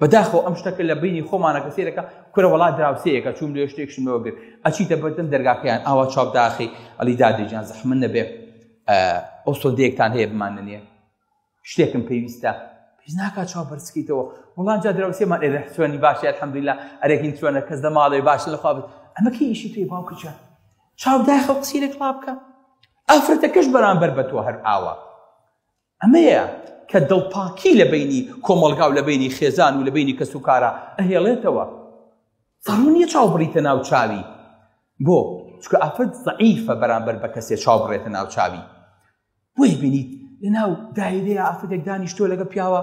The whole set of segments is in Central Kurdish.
بەداخەوە ئەم شتەکە لە بینی خۆمانەکە سێرەکە کورە وڵا دراوسەیەەکە چوون لێ شتێکشم لەوە گرت ئەچیتە بەردەم دەرگاکەیان ئاوا چاپ داخی ئەلی دادێجان زەحمن نەبێ ئەو سۆدەیەکتان هەیە بمان نەنیە شتێکم پێویستە پێش ناکات چاو بەرزکەیتەوە وڵان جا دراوسێمان ئێرە سوێنی باشی الحەمدللا ئەرەکین سوێنە کەس لە ماڵێ باش لە خوابت ئەمە کە ئیشی پێی باوکە جان چاو داخە قسیرێک ڵابکە ئافرەتەکەش بەرامبەر بە تۆ هەر ئاوا ئەمەیە کە دڵپاکی لە بینی کۆمەڵگا و لە بینی خێزان و لە بینی کەس و کارە ئەهێڵێتەوە زەڕوو نییە چاو بڕیتە ناو چاوی بۆ چکە ئافرەت زعیفە بەرامبەر بە کەسێ چاو بڕێتە ناو چاوی بۆی بینیت لە ناو دایرەیە ئافرەتێک دانیشتۆ لەگە پیاوە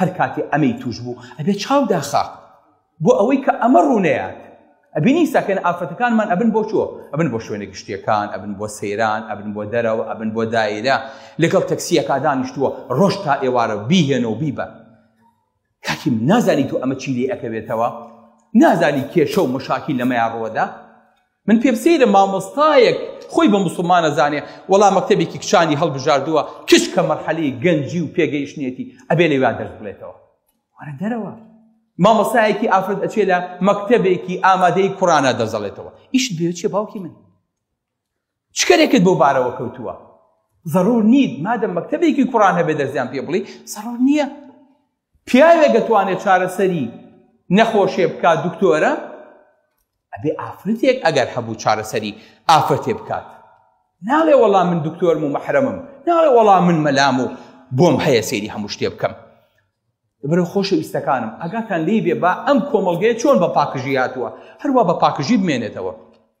هەر کاتێ ئەمەی تووش بوو ئەبێ چاو داخا بۆ ئەوەی کە ئەمە ڕوونەیات ئەبینی ساکەن ئافرەتەکانمان ئەبن بۆ چۆ ئەبن بۆ شوێنە گشتیەکان ئەبن بۆ سەیران ئەبن بۆ دەرەوە ئەبن بۆ دایرە لەگەڵ تەکسیەکە دانیشتووە ڕۆژ تا ئێوارە بیهێنە و بیبە کاکیم نازانی تۆ ئەمە چی لێ ئەکەوێتەوە نازانی کێشە و مشاکی لەمەیان ڕۆدا من پێم سەیرە مامۆستایەک خۆی بە مسلمانە زانێ وەڵا مەکتەبێکی کچانی هەڵبژاردووە کچ کە مەرحەلی گەنجی و پێگەیشتنێتی ئەبێ لەوان دەرس بڵێتەوە وەرە دەرەوە مامۆستایەکی ئافرەت ئەچێ لە مەکتەبێکی ئامادەی کوڕانە دەزەڵێتەوە ئیشت بێچێ باوکی من چکەرێکت بۆ بارەوە کەوتووە ضرور نیت مادەم مەکتەبێکی کوڕان هەبێ دەرزیان پێ بڵی سەڕۆر نییە پیاوێک دەتوانێت چارەسەری نەخۆشێ بکات دکتۆرە ئەبێ ئافرەتێک ئەگەر هەبوو چارەسەری ئافرەتێ بکات ناڵێ وەڵام من دکتۆرم و مەحرەمم ناڵێ وەڵام من مەلام و بۆم هەیە سێری هەموو شتێ بکەم برە خۆشەویستەکانم ئەگاتان لی بێ با ئەم کۆمەلگەیە چۆن بە پاکژی هاتووە هەروە بە پاکژی بمێنێتەوە